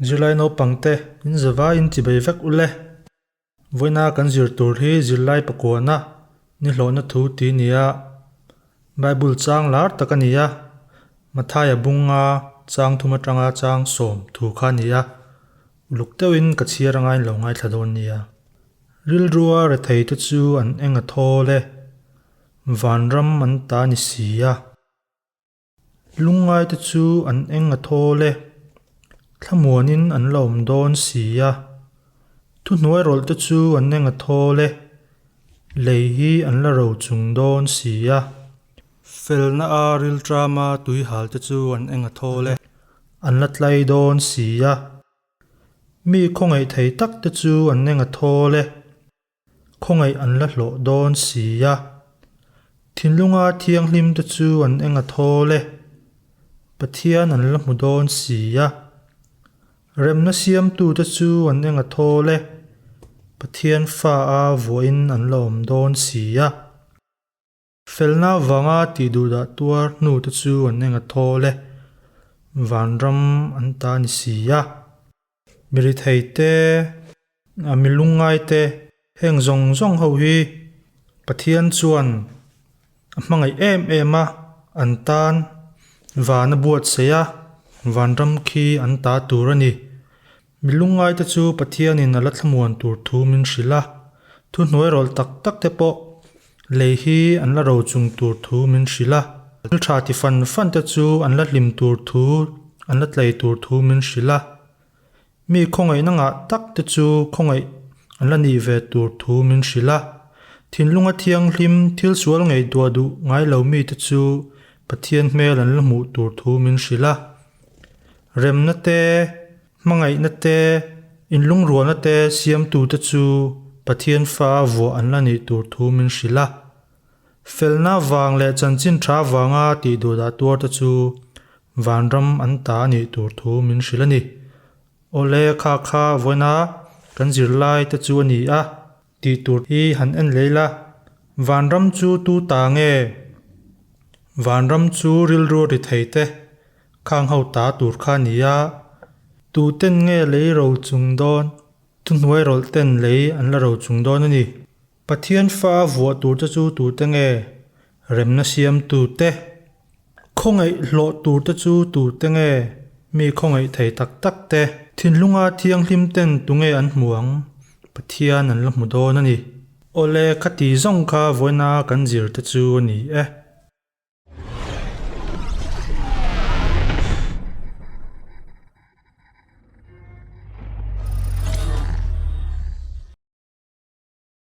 Zirlai naupangte inzava inchibei vek u le. Vawiina kan zir tur hi zirlai pakuana nihlawhna thu ti nia Bible chang lar tak a ni a, Mathaia bunga chang thum atanga chang sawm thu kha a ni a. Luk deuhin ka chhiar a ngain lo ngaithla dawn nia. Rilrua rethei te chu an eng a thawl e. Vanram an ta ni si a. Lungngai te chu an eng a thawl e. Thlamuanin an la awm dawn si a. Thuhnuai rawlh te chu an eng a thawl e. Lei hi an la ro chung dawn si a. Felna a riltram a tuihal te chu an eng a thawl e. An la tlai dawn si a. Mi khawngaih thei tak te chu an eng a thawl e. Khawngaih an la hlawh dawn si a. Thinlunga thianghlim te chu an eng a thawl e. Pathian an la hmu dawn si a. Remna siamtu te chu an eng a thawl e. Pathian fa a vuain an la awm dawn si a. Felna vanga tih duh dah tuar hnu te chu an enga thawl e, vanram an ta ni si a, mi rithei te, a mi lungngai te heng zawng zawng ho hi Pathian chuan a hmangaih em em a, an tan van a buatsaih a, vanram khi an ta tur a ni. Mi lungngaite chu Pathianin a la thlamuan tur thu min hrilh a, thuhnuai rawlh tak tak te pawh lei hi an la ro chung tur thu min hrilh a, thil tha ti fan fan te chu an la hlim tur thu, an la tlei tur thu min hrilh a, mi khawngaihna ngah tak te chu khawngaih an la nih ve tur thu min hrilh a, thinlunga thianghlim, thil sual ngei duah duh ngai lo mite chu Pathian hmel an la hmuh tur thu min hrilh a. Remna te, hmangaihna te, inlungrualna te siamtute chu Pathian Fa a vuah an la nih tur thu min hrilh a. Felna vang leh chanchin tha vanga tih duh dah tuar te chu vanram an ta a nih tur thu min hrilh a ni. Awle, kha kha vawiina kan zirlai te chu a ni a. Tih tur hi han en lei la. Vanram chu tu ta nge? Vanram chu rilru ri thei te khang ho ta tur kha a ni a. Tu ten nge lei ro chung dawn? Thu hnuai rawlh ten lei an la ro chung dawn a ni. Pathian fa a vuah tur te chu tu te nge? Remna siamtu te, Khawngaih hlawh tur te chu tute nge? Mi khawngaih thei tak tak te. Thinlunga thianghlim ten tunge an hmu ang? Pathian an la hmu dawn a ni. Awle, khati zawng kha vawiina kan zir te chu a ni e.